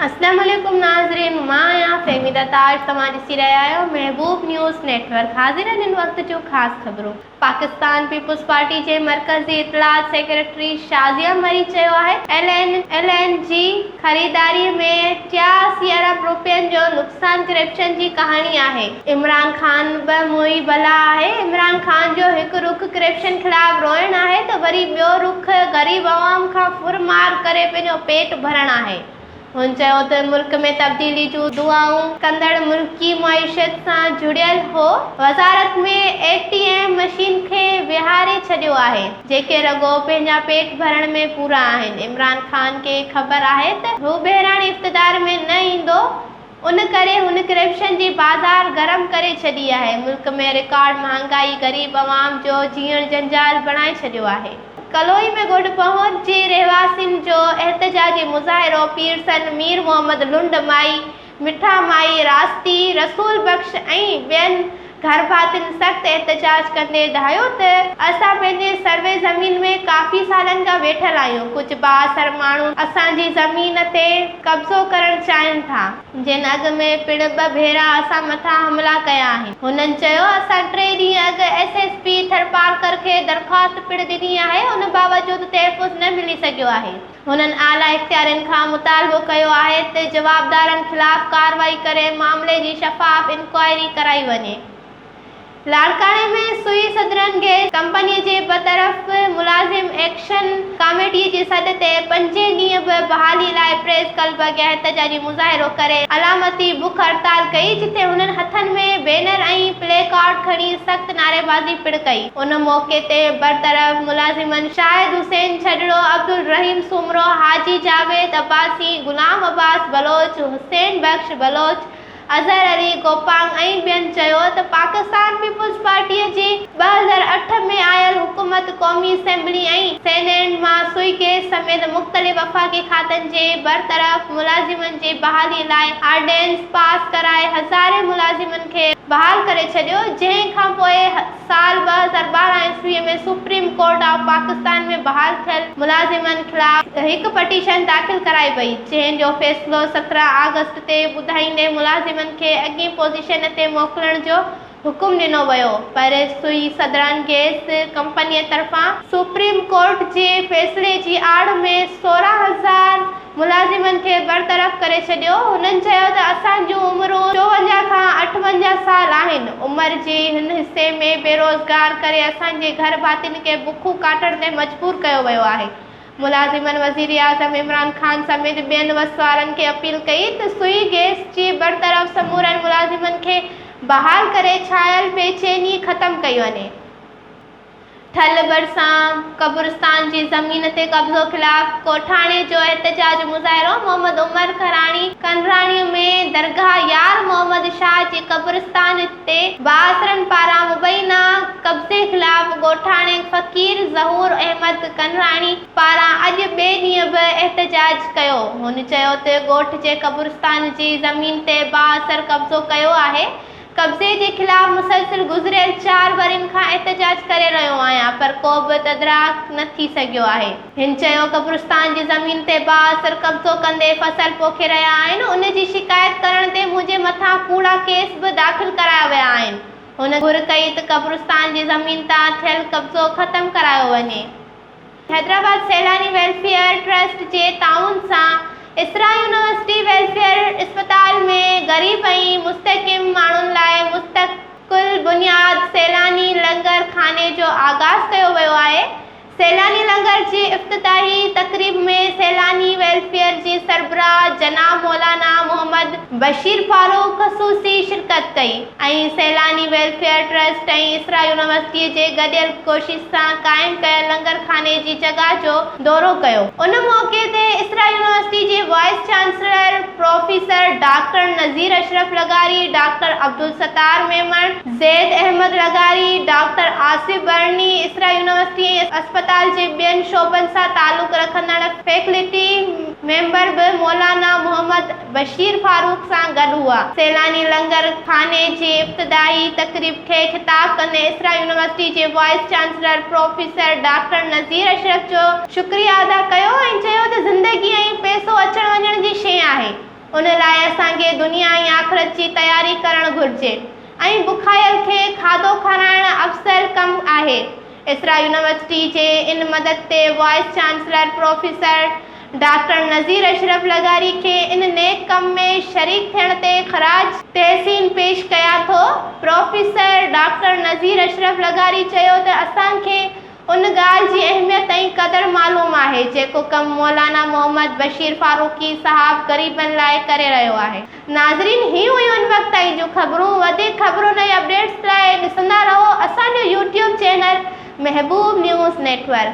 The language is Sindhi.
اسلام عليڪم ناظرين مان آهيان فهميده تاج توهان ڏسي رهيا آهيو محبوب نيوز نيٽ ورڪ حاضر آهن ان وقت جون خاص خبرون پاڪستان پيپلز پارٽي جي مرڪزي اطلاعات سيڪريٽري شازيه مري چيو آهي ايل اين جي خريداري ۾ ٽيا اسي ارب روپين جو نقصان ڪرپشن جي ڪهاڻي آهي. عمران خان به موئي بلا آهي. عمران خان جو هڪ رخ ڪرپشن خلاف روئڻ آهي ته وري ٻيو رخ غريب عوام کان ڦر مار ڪري پنهنجو پيٽ ڀرڻ آهي. هن چيو ته ملڪ ۾ تبديلي جون دعائون ڪندڙ ملڪي معيشت سان جڙيل هو. وزارت ۾ اي ٽي ايم مشين کي ويهاري ڇڏيو آهي. جيڪي رڳو پنهنجا پيٽ ڀرڻ ۾ پورا آهن. عمران خان کي خبر آهي ته هو بهراڻي اقتدار ۾ نه ايندو ان ڪري هن ڪرپشن جي بازار گرم ڪري ڇڏي آهي، ملڪ ۾ رڪارڊ مهانگائي غريب عوام جو جيئڻ جنجال بڻائي ڇڏيو آهي. ڪلوئي ۾ گوڏ پهور جي رهواسين جو احتجاجي مظاهرو پيئرسن مير محمد لنڊ مائي مٺا مائي راستی، رسول بخش ۽ ٻين گهرڀاتين سخت احتجاج ڪندي ڌايو ته اسان پنهنجي سروي زمين ۾ ڪافي سالن کان ويٺل آهيون، ڪجهه بااثر ماڻهو اسان جي زمين تي قبضو ڪرڻ چاهين ٿا، جن اڳ ۾ پڻ ٻه ڀيرا اسان مٿان حملا ڪيا آهن، هنن چيو اسان ٽي ڏينهن اڳ ايس ايس پي ٿرپارڪر کي درخواست پڻ ڏني آهي، ان باوجود تحفظ نه ملي سگهيو آهي. هنن اعليٰ اختيارين کان مطالبو ڪيو آهي ته جوابدارن خلاف ڪارروائي ڪري معاملي جي شفاف انڪوائري ڪرائي وڃي. لاڙڪاڻي ۾ سوئي سدرن گئس ڪمپني جي برطرف ملازم ايڪشن ڪاميٽي جي سڏ تي پنجين ڏينهن به بحالي لاء پريس ڪلب اڳيان احتجاجي مظاهرو ڪري علامتي بک هڙتال ڪئي جتي هنن هٿن ۾ بينر ۽ پلي ڪارڊ کڻي سخت نعريبازي پڻ ڪئي. ان موقعي تي برطرف ملازمن شاهد حسين ڇڄڙو، عبدالرحيم سومرو، حاجي جاويد عباسي، غلام عباس بلوچ، حسين بخش بلوچ، اظهر علي گوپانگ ۽ ٻين چيو ته پاڪستان پيپلز پارٽيء جي ٻه هزار اٺ ۾ آيل حڪومت قومي اسيمبلي ۽ سينيٽ مان سوئي گيس سميت مختلف وفاقي کاتن جي برطرف ملازمن جي بحالي لاء آرڊيننس پاس ڪرائي هزارين ملازمن کي بحال ڪري ڇڏيو جنهن کانپوء سال ٻه هزار ٻارهن عيسويء ۾ سپريم ڪورٽ آف پاڪستان ۾ بحال ٿيل ملازمن خلاف هڪ پٽيشن داخل ڪرائي وئي، جنهن جو فيصلو سترهن آگسٽ تي ٻڌائيندي ملازمن کي اڳين پوزيشن تي موڪلڻ جو حڪم ڏنو ويو، پر سوئي سڌران گئس ڪمپنيء طرفان. سپريم ڪورٽ جي فيصلي جي آڙ ۾ سورهن هزار ملازمن کي برطرف ڪري ڇڏيو. هنن چيو ته اسان جون عمرون چوونجاهه کان اٺونجاهه سال آهن، عمر جي هن حصي ۾ بيروزگار ڪري اسان جي گهر ڀاتين کي بکون ڪاٽڻ تي مجبور ڪيو ويو آهي. ملازمن وزيراعظم عمران خان سميت ٻين وس وارن کي اپيل ڪئي ته سوئي گئس جي برطرف سمورن ملازمن کي بحال ڪري ڇانيل بيچيني ختم ڪئي وڃي. ٺل ڀرسان قبرستان جي زمين تي قبضو خلاف ڪوٺاڻي جو احتجاج مظاهرو محمد عمر کراڻي کنراڻي ۾ درگاهه يار محمد شاهه جي قبرستان تي بااثرن پاران مبينا قبضي خلاف ڳوٺاڻي فقير ظهور احمد کنراڻي پاران اڄ ٻئي ڏينهن به احتجاج ڪيو هن چيو ته ڳوٺ جي قبرستان جي زمين تي بااثر قبضو ڪيو آهي قبضي جي خلاف مسلسل گذريل چار ورهين کان احتجاج ڪري رهيو آهيان پر ڪو به تدراڪ نه ٿي سگهيو آهي. هن چيو قبرستان جي زمين تي بااثر قبضو ڪندي فصل پوکي رهيا آهن ان جي شڪايت ڪرڻ تي منهنجي مٿان ڪوڙا ڪيس به داخل ڪرايا ويا آهن هن گهر ڪئي ته قبرستان جي زمين تان ٿيل قبضو ختم ڪرايو وڃي حيدرآباد سيلاني ويلفيئر ٽرسٽ جي تعاون سان اسرا يونيورسٽي ويلفيئر اسپتال ۾ غريب ۽ مستحڪم ماڻهن لاء مستقل بنياد سيلاني لنگر خاني جو آغاز ڪيو ويو آهي سيلاني لنگر جي افتتاحي تقريب ۾ سيلاني ويلفيئر جي سربراهه جناب مولانا محمد بشير فاروق خصوصي شرڪت ڪئي. ۽ سيلاني ويلفيئر ٽرسٽ ۽ اسرا يونيورسٽيء جي گڏيل ڪوشش سان قائم ڪيل لنگر خاني جي جڳهه جو دورو ڪيو. ان موقعي تي اسرا يونيورسٽيء جي vice chancellor professor doctor Nazir Ashraf لغاري، ڊاڪٽر عبدالستار ميمڻ، زيد احمد لغاري، ڊاڪٽر آصف برني، اسرا يونيورسٽيء ۽ اسپتال جي ٻين شعبن سان تعلق رکندڙ فيڪلٽي ميمبر به مولانا محمد بشير فاروق سان گڏ هئا. سيلاني لنگر خاني جي افتتاحي تقريب کي خطاب ڪندي اسرا يونيورسٽي جي vice chancellor professor doctor Nazir Ashraf جو شڪريا ادا ڪيو ۽ چيو ته زندگي ۽ پئسو اچڻ وڃڻ جي شيء آهي ان لاء اسان کي دنيا ۽ آخرت جي تياري ڪرڻ گهرجي ۽ بکايل کي کاڌو کارائڻ افضل ڪم آهي اسرا يونيورسٽي جي ان مدد تي vice chancellor professor doctor Nazir Ashraf لغاري کي ان نيڪ ڪم ۾ شريڪ ٿيڻ تي خراج تحسين پيش ڪيان ٿو. پروفيسر ڊاڪٽر نذير اشرف لغاري چيو ته اسان کي ان ڳالهه جي اهميت ۽ قدر معلوم آهي جيڪو ڪم مولانا محمد بشير فاروقي صاحب غريبن لاء ڪري رهيو آهي. ناظرين هي هيون ان وقت تائين جون خبرون وڌيڪ خبرن ۽ اپڊيٽس لاء ڏسندا رهو اسان جو YouTube channel Mehboob news net work.